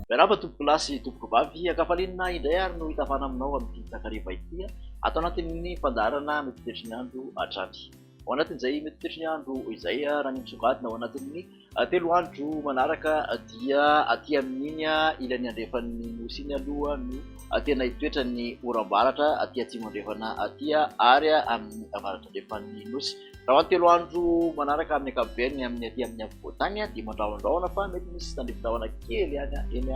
Miarahaba tompokolahy sy tompokovavy, ankafalinina indray ary no hitavana aminao amin'ity takariva ity ato anatin'ny fandaharana mety toetry ny andro hatrany. Ao anatin'izay mety toetry ny andro izay raha ny misongadina ao anatin'ny Telo andro manaraka dia aty amin'iny ilany andrefan'ny Nosy iny aloha no tena hitoetran'ny oram-baratra aty atsimo andrefana aty ary amin'ny avaratra andrefan'ny Nosy. Raha ny telo andro manaraka amin'ny ankapobeny amin'ny aty amin'ny afovoantany dia mandrahondrahona fa mety misy tandrifin-drahona kely ihany eny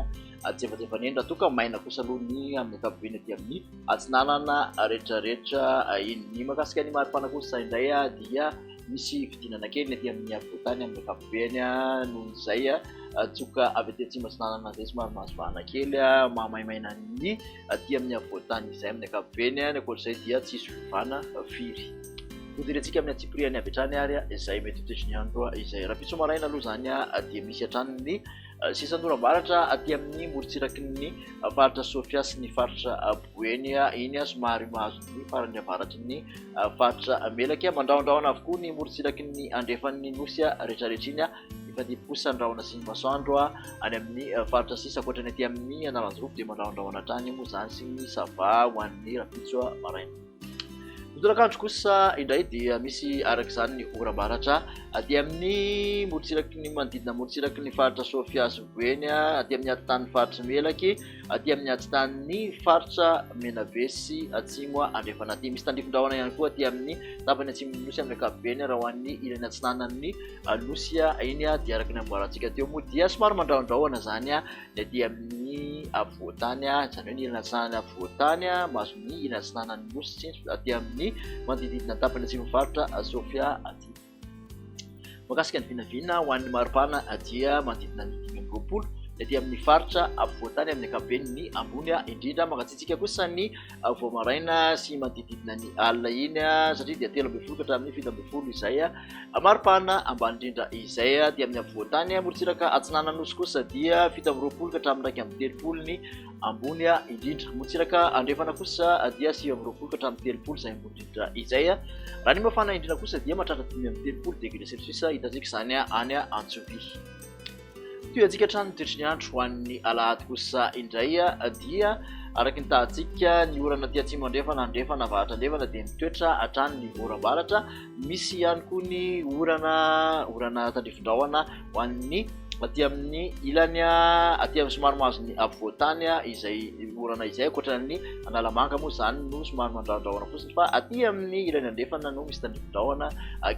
antsefatsefany eny raha toa ka maina kosa aloha ny amin'ny ankapobeny aty amin'ny atsinanana rehetrarehetra iny. Ny mahakasika ny maripana kosa indray dia Misy fidinana kely ny aty amin'ny afovoantany amin'ny ankapobeny noho izay tsoka avy aty atsimo atsinanana izay somary mahazo vahana kely mahamaimaina ny aty amin'ny afovoantany izay amin'ny ankapobeny, ny ankoatr'izay dia tsy hisy fiovana firy. Hodirentsika amin'ny antsipirihany avy hatrany ary izay mety ho toetry ny andro izay. Rahampitso maraina aloha izany dia misy hatrany ny sisan'oram-baratra aty amin'ny morontsiraky ny faritra Sofia sy ny faritra Boeny, iny somary mahazo ny farany avaratry ny. Faritra Melaky, mandrahondrahona avokoa ny morontsiraky ny andrefan'ny Nosy rehetrarehetra iny, mifandimby kosa ny rahona sy ny masoandro any amin'ny faritra sisa, ankoatra ny aty amin'ny Analanjirofo dia mandrahondrahona hatrany moa izany sy ny sava ho an'ny rahampitso maraina. Ny tolakandro kosa indray dia misy araka izany ny oram-baratra aty amin'ny morontsiraky ny manodidina morontsiraky ny faritra Sofia sy Boeny, aty amin'ny atitan'ny Faritra Melaky, aty amin'ny atsitan'ny faritra Menabe sy atsimo andrefana aty. Misy tandrifin-drahona ihany koa aty amin'ny tapany atsimon'ny nosy amin'ny ankapobeny raha ho an'ny ilany atsinanan'ny nosy. Iny dia araka ny amboarantsika teo moa dia somary mandrahondrahona izany ny aty amin'ny afovoan-tany, izany hoe ny ilany atsinanan'ny afovoan-tany mahazo ny ilany atsinanan'ny nosy, aty amin'ny manodidididina ny tapany atsimon'ny faritra Sofia aty. Mahakasika ny vinavina ho an'ny mari-pana dia manodidina ny dimy amby roapolo ny aty amin'ny faritra afovoan-tany amin'ny ankapobeny ny ambony indrindra. Mangatsiatsiaka kosa ny vao maraina sy manodididina ny alina iny satria dia telo ambin'ny folo ka hatramin'ny fito ambin'ny folo izay mari-pana ambany indrindra izay. Aty amin'ny afovoan-tany morontsiraka atsinanana nosy kosa dia fito amby roapolo ka hatramin'ny iraika amby telopolo ny ambony indrindra. Motsiraka andrefana kosa dia sivy amby roapolo ka hatramin'ny telopolo izay ambony indrindra izay. Raha ny mafana indrindra kosa dia mahatratra dimy amby telopolo degré celsius hitantsika izany any Antsovia. Tohiantsika hatrany ny toetry ny andro ho an'ny alahady kosa indray dia araka ny tahantsika ny orana aty atsimo andrefana andrefana avaratra andrefana dia mitoetra hatrany ny oram-baratra misy ihany koa ny orana orana tandrifin-drahona ho an'ny aty amin'ny ilany aty amin'ny somary mahazo ny afovoan-tany izay orana izay ankoatran'ny Analamanga moa izany no somary mandrahondrahona fotsiny fa aty amin'ny ilany andrefana no misy tandrifin-drahona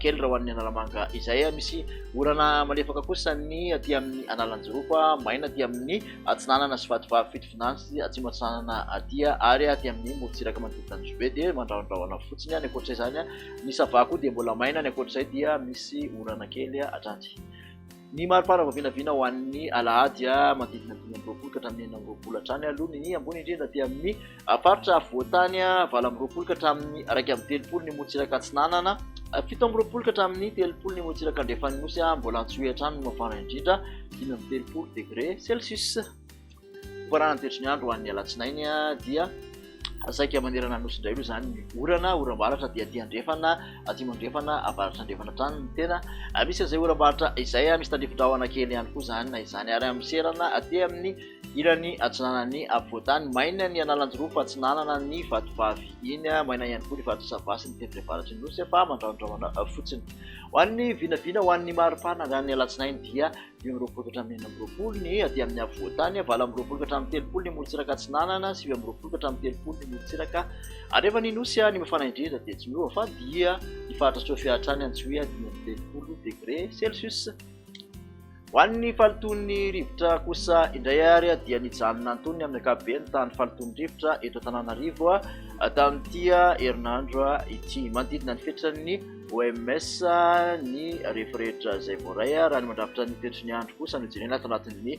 kely raha ho an'ny Analamanga izay misy orana malefaka kosa ny aty amin'ny Analanjirofo maina aty amin'ny atsinanana sy vatovavy fito finany sy atsimo atsinanana aty ary aty amin'ny morontsiraka manodidina ny Jobe dia mandrahondrahona fotsiny any ankoatra izany Ny sava koa dia mbola maina, ny ankoatr'izay dia misy orana kely hatrany. Ny mari-pana vao vinavina ho an'ny alahady manodidina dimy amby roapolo ka hatramin'ny enina amby roapolo hatrany aloha ny ny ambony indrindra aty amin'ny faritra afovoan-tany, valo amby roapolo ka hatramin'ny iraika amby telopolo ny motsiraka atsinanana, fito amby roapolo ka hatramin'ny telopolo ny motsiraka andrefan'ny nosy, mbola antsohihy hatrany ny mafana indrindra, dimy amby telopolo degré celsius. Faran'ny toetry ny andro ho an'ny alatsinainy dia saika manerana ny nosy indray aloha izany ny orana, oram-baratra dia aty andrefana, atsimo andrefana, avaratra andrefana hatrany ny tena misy an'izay oram-baratra izay, misy tandrifin-drahona kely ihany koa izany na izany ary amin'ny serana aty amin'ny ilany atsinanan'ny afovoan-tany. Maina ny Analanjirofo atsinanana ny Vatovavy iny, maina ihany koa ny Faritra Sava sy ny tendrony avaratry ny nosy fa mandrahondrahona fotsiny. Ho an'ny vinavina, ho an'ny mari-pana androan'ny alatsinainy dia dimy amby roapolo ka hatramin'ny enina amby roapolo ny aty amin'ny afovoantany, valo amby roapolo ka hatramin'ny telopolo ny morontsiraka atsinanana, sivy amby roapolo ka hatramin'ny telopolo ny morontsiraka arefa ny nosy, ny mafana indrindra dia tsy miova fa dia ny faritra Sophia hatrany Antsohihy dimy amby telopolo degre celsius. Ho an'ny fahalotoan'ny rivotra kosa indray ary dia nijanona antonony amin'ny ankapobeny tany fahalotoan'ny rivotra eto Antananarivo tamin'ity herinandro ity, manodidina ny fetran'ny OMS, ny refy rehetra izay voaray, raha ny mandrafitra ny fetry ny andro kosa no jerena ato anatin'ny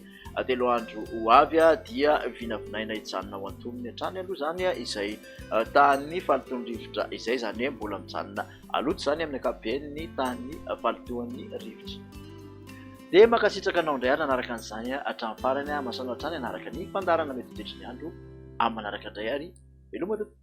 telo andro ho avy dia vinavinaina hijanona ho antonony hatrany aloha izany izay tahan'ny fahalotoan'ny rivotra izay, izany hoe mbola mijanona loto izany amin'ny ankapobeny ny tahan'ny fahalotoan'ny rivotra. Dia mankasitraka anao indray ary nanaraka an'izany hatramin'ny farany, mahasoa anao hatrany hanaraka ny fandaharana mety ho fetry ny andro amin'ny manaraka indray ary veloma tompoko.